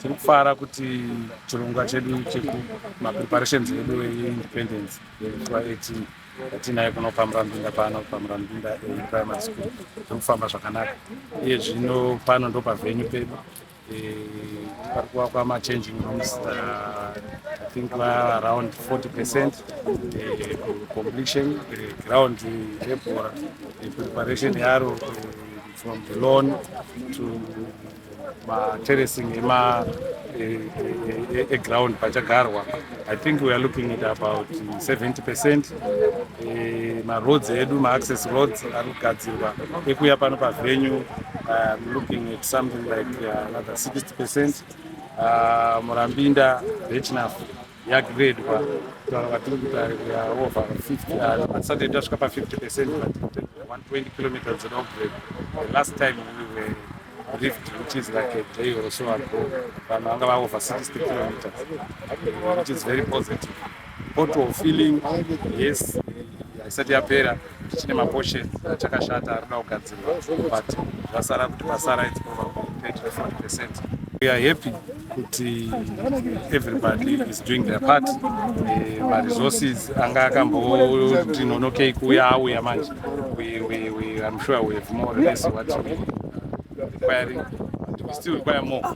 tiri kufara kuti chirongwa chedu chekumapreparations edu eindependence 18 Tinaye kuno paMurambinda pano paMurambinda eh, primary school zvekufamba zvakanaka iye zvino pano ndo pavenue pedu eh, pari kuvakwa machanging rooms ah, i think va around 40 percent eh, completion eh, ground rebhora eh, preparation yaro eh, from the lawn to materracing ema eground e, e, e, pachagarwa i think weare looking at about 70 percent e, maroads edu maaccess roads ari kugadzirwa ekuya pano pavenue um, looking at something like uh, another 60 percent uh, murambinda rechinafu yagredwa tanga tiri kutarira over 50 yard but saturday tasvika pa 50 percent but 120 kilometers dzoda kugrade the last time we were rift which is like a day or so ago vanhu vanga va over 60 kilometers which is very positive photo feeling yes haisati yapera tichine maposhe achakashata arikuda kugadzirwa but zvasara kuti pasara it's probably 30 percent we are happy kuti everybody is doing their part eh, maresources anga akamboti nonokei kuuya auya manje i'm sure we have more or less what we requiring and we still require more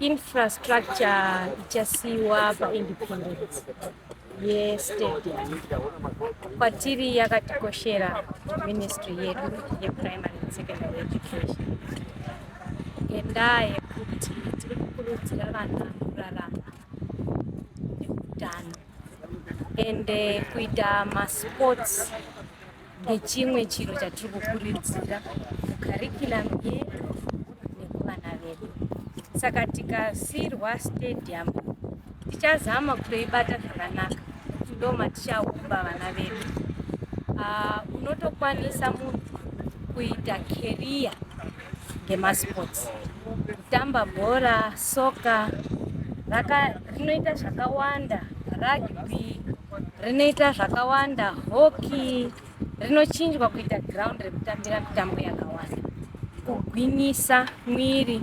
infrastructure ichasiiwa paindependence yestate kwatiri yakatikoshera ministry yedu yeprimary and secondary education ngendaa yekuti tiri kukurudzira vana kurarama neutano ende kuita masports ndechimwe chiro chatiri kukurudzira mukarikiramu yedu nekuvana vedu saka tikasirwa stadium tichazama kutoibata zvakanaka ndo matichaumba vana vedu ah, unotokwanisa munhu kuita keriya ngemasports kutamba bhora soka rinoita zvakawanda rugby rinoita zvakawanda hockey rinochinjwa kuita ground rekutambira mitambo yakawanda kugwinyisa mwiri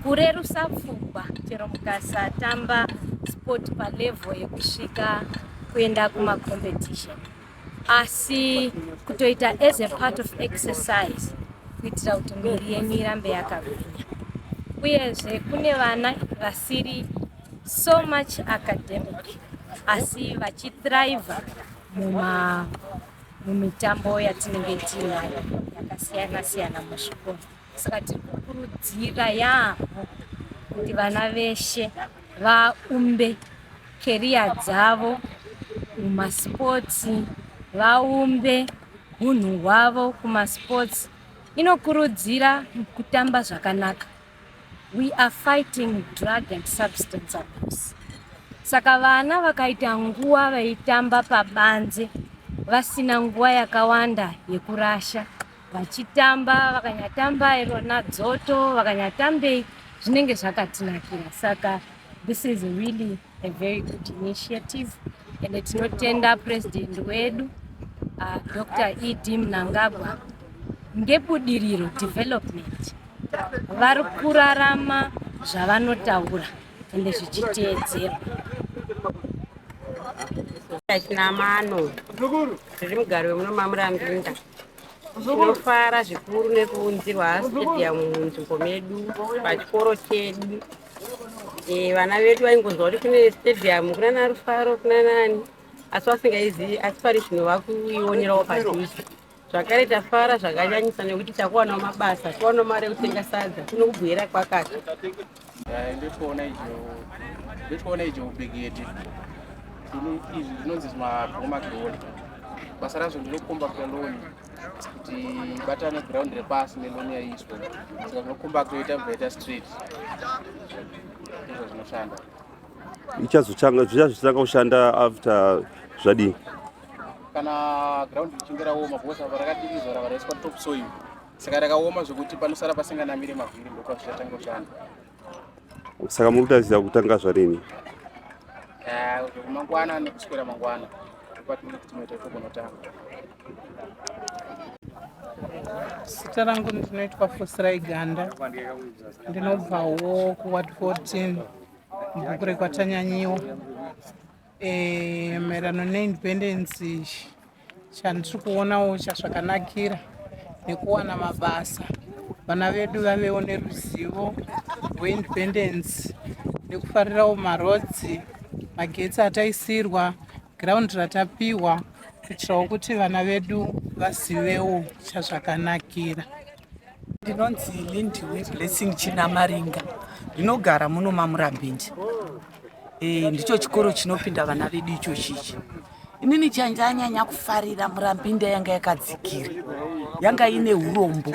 kurerusa pfungwa chero mukasatamba sport palevel yekusvika kuenda kumacompetition asi kutoita as a part of exercise kuitira kuti miri yenyu irambe yakagwinya uyezve kune vana vasiri so much academic asi vachithrive mumitambo yatinenge tiinayo yakasiyana siyana muzvikoro saka tiri kukurudzira yaamho kuti vana veshe vaumbe keriya dzavo mumasports vaumbe hunhu hwavo kumasports inokurudzira kutamba zvakanaka we are fighting drug and substance abuse saka vana vakaita nguva vaitamba pabanze vasina nguva yakawanda yekurasha vachitamba vakanyatamba irona dzoto vakanyatambei zvinenge zvakatinakira saka this is really a very good initiative and tinotenda president wedu uh, dr ed mnangagwa ngebudiriro development vari kurarama zvavanotaura ende zvichiteedzerwa chinamano zviri mugari wemuno mamurambinda Tinofara zvikuru nekuunzirwa stadium munzvimbo medu pachikoro chedu. E, vana vedu vaingonzwa kuti kune stadium kunana Rufaro kunanani asi vasingaizivi asi pari zvino vakuionerawo padhuze zvakare tafara zvakanyanyisa nekuti takuwanawo mabasa tiwanawo mari yekutenga sadza tinokubwira kwakati Eh, ndotoona izvo ndotoona izvo ubegete izvi zvinonzi mabhoma ground basa razvo ndinokomba kuita loan kuti batane ground repasi neloan yaiswa saka zvinokomba kuita bvaita street izvo zvinoshanda ichazotanga zvichazotanga kushanda after zvadii kana ground richinge raoma bhosa varakatirizora varaiswa top soil saka rakaoma zvekuti panosara pasinganamire mavhiri ndopazvichatanga kushanda saka muri kutarisira kutanga zvarini mangwana nekuswera mangwana patinoda kuti tinoita togonotanga zita rangu ndinoitwa fosirai ganda ndinobvawo kuward 14 mubhuku rekwatanyanyiwa Eh, maererano neindependence chandiri kuonawo chazvakanakira nekuwana mabasa vana vedu vavewo neruzivo rweindependence nekufarirawo marodzi magetsi ataisirwa ground ratapihwa kuitirawo kuti vana vedu vazivewo chazvakanakira ndinonzi lindiwe blessing chinamaringa ndinogara muno mamurambinji e, ndicho chikoro chinopinda vana vedu ichochi ichi inini chandanyanya kufarira murambinda yanga yakadzikira yanga ine urombo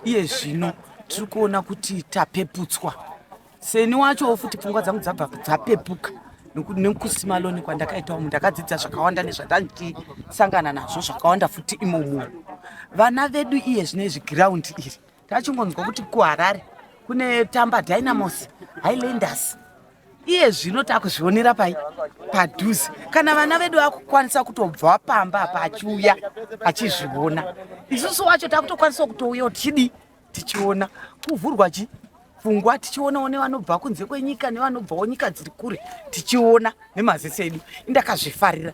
iye zvino tiri kuona kuti tapeputswa seni wacho futi pfungwa dzangu dzabva dzapepuka nokuti nekusimaloni kwandakaita umu ndakadzidza zvakawanda nezvatandisangana nazvo zvakawanda futi imomo vana vedu iye zvine izvi giraundi iri tachingonzwa kuti kuharare kune tamba dynamos highlanders iye zvino takuzvionera pai padhuze kana vana vedu vakukwanisa kutobva pamba apa achiuya achizviona isusu wacho takutokwanisawo kutouyawo tichidii tichiona kuvhurwa chi pfungwa tichionawo nevanobva kunze kwenyika nevanobvawo nyika dziri kure tichiona nemaziso edu indakazvifarira